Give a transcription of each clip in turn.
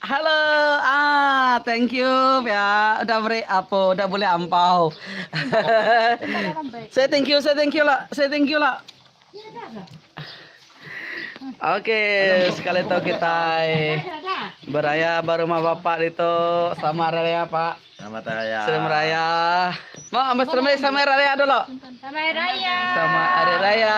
Hello ah thank you pia udah beri apo udah buli ampau. say thank you say thank you lah say thank you lah. Okay sekali tu kita beraya baru rumah bapa itu sama raya pak. Sama raya. Sama raya. Mau ambil sama raya dulu. Sama raya. Sama raya.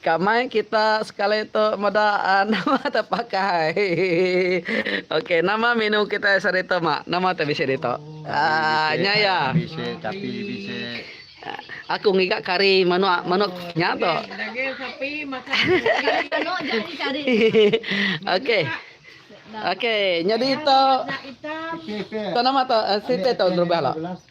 Ka mai kita sekali tu meda nama tu pakai. Ok nama menu kitai sehari tu mak nama tu bisi ditu. Aaa nya ya. Bisi capi bisi. Aku ngiga kari manok manok nya tu. Daging sapi masak kari manok nya ni kari. ok. Ok nyadi tu. Nama tu siti tu gerubah lo.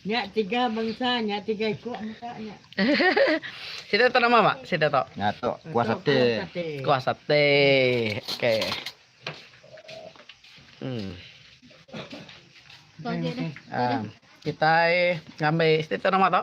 Nya tiga bangsa nya tiga iko muka nya. Sida tu nama ba sida tu? Nya tu kuah sate. Kuah sate. Okey. Hmm. Kitai ngambi sida tu nama tu?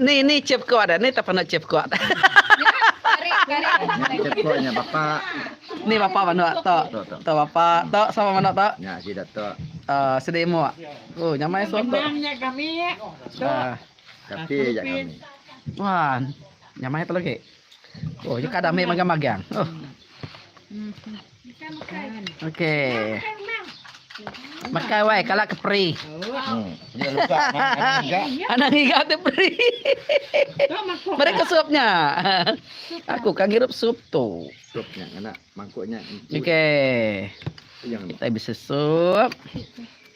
Ni ni chef kua da ni tapanu chef kua. Ni bapa manu to. To bapa to sama manu to. Aaa sidi imuk. Ooh nyamai soto. Aaa. Wah nyamai tu lagi. Ooh nya kada ami magang-magang. Ooh. Okey. Makan wai kala ke peri. Hmm. Dia luka anak ngiga. Anak ngiga tu peri. Mereka supnya. Aku kan ngirup sup tu. Supnya anak mangkuknya. Okey. Kita bisa sup.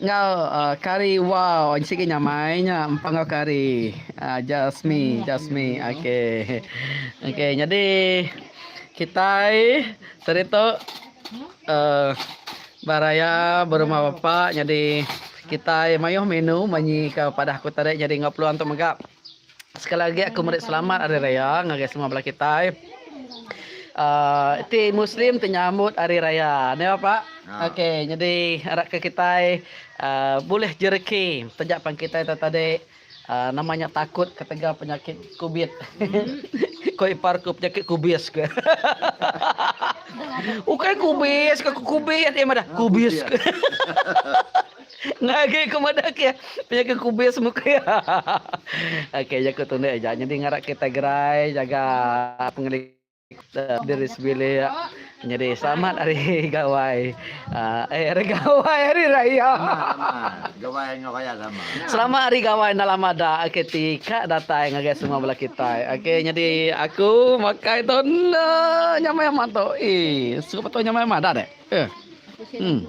Enggau kari wow nya sigi nyamai nya empang enggau kari just me just me ok nyadi kitai seri tu beraya berumah bapa nyadi kitai mayuh minu manyi ke padah aku tadi nyadi enggau peluang tu mega. Sekali agi aku meri selamat Hari Raya ngagai semua bala kitai. Uh, ti Muslim ti nyambut Hari Raya. Ni apa? Ha. Okey, jadi harapka kitai uh, boleh jereki taja pan kitai ta tadi uh, namanya takut ketegal penyakit kubit. Ko ipar ku penyakit kubis ke. Ukai kubis ke kubit dia madah kubis. kubis. Ngagai ku madah ke pia ke kubis muka ya. Okey jaku tu ndik ja nyadi ngarap kita gerai jaga pengeli diri sebilik. Nyadi selamat hari gawai. Uh, eh hari gawai hari raya. Gawai dengan raya sama. Selamat hari gawai dalam mada okey ti kak datai ngagai semua bela kita. Okey nyadi aku makai tu nyamai amat tu. Eh, suka betul nyamai amat dah dek. Eh. Hmm.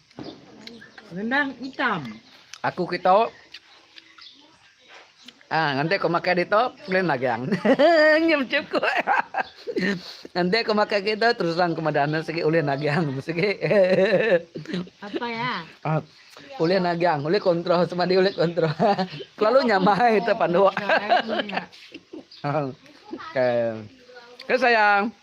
Rendang itam. Aku keto ah nganti aku makai dito lain magang. Nya bechuku. Nganti aku makai keto terus terang aku madah enda sigi ulih nagang sigi. Apa ya? Ah, ulih nagang, ulih kontrol sama dia ulih kontrol. Kelalu nyamai te panduk. Okey. Okey sayang.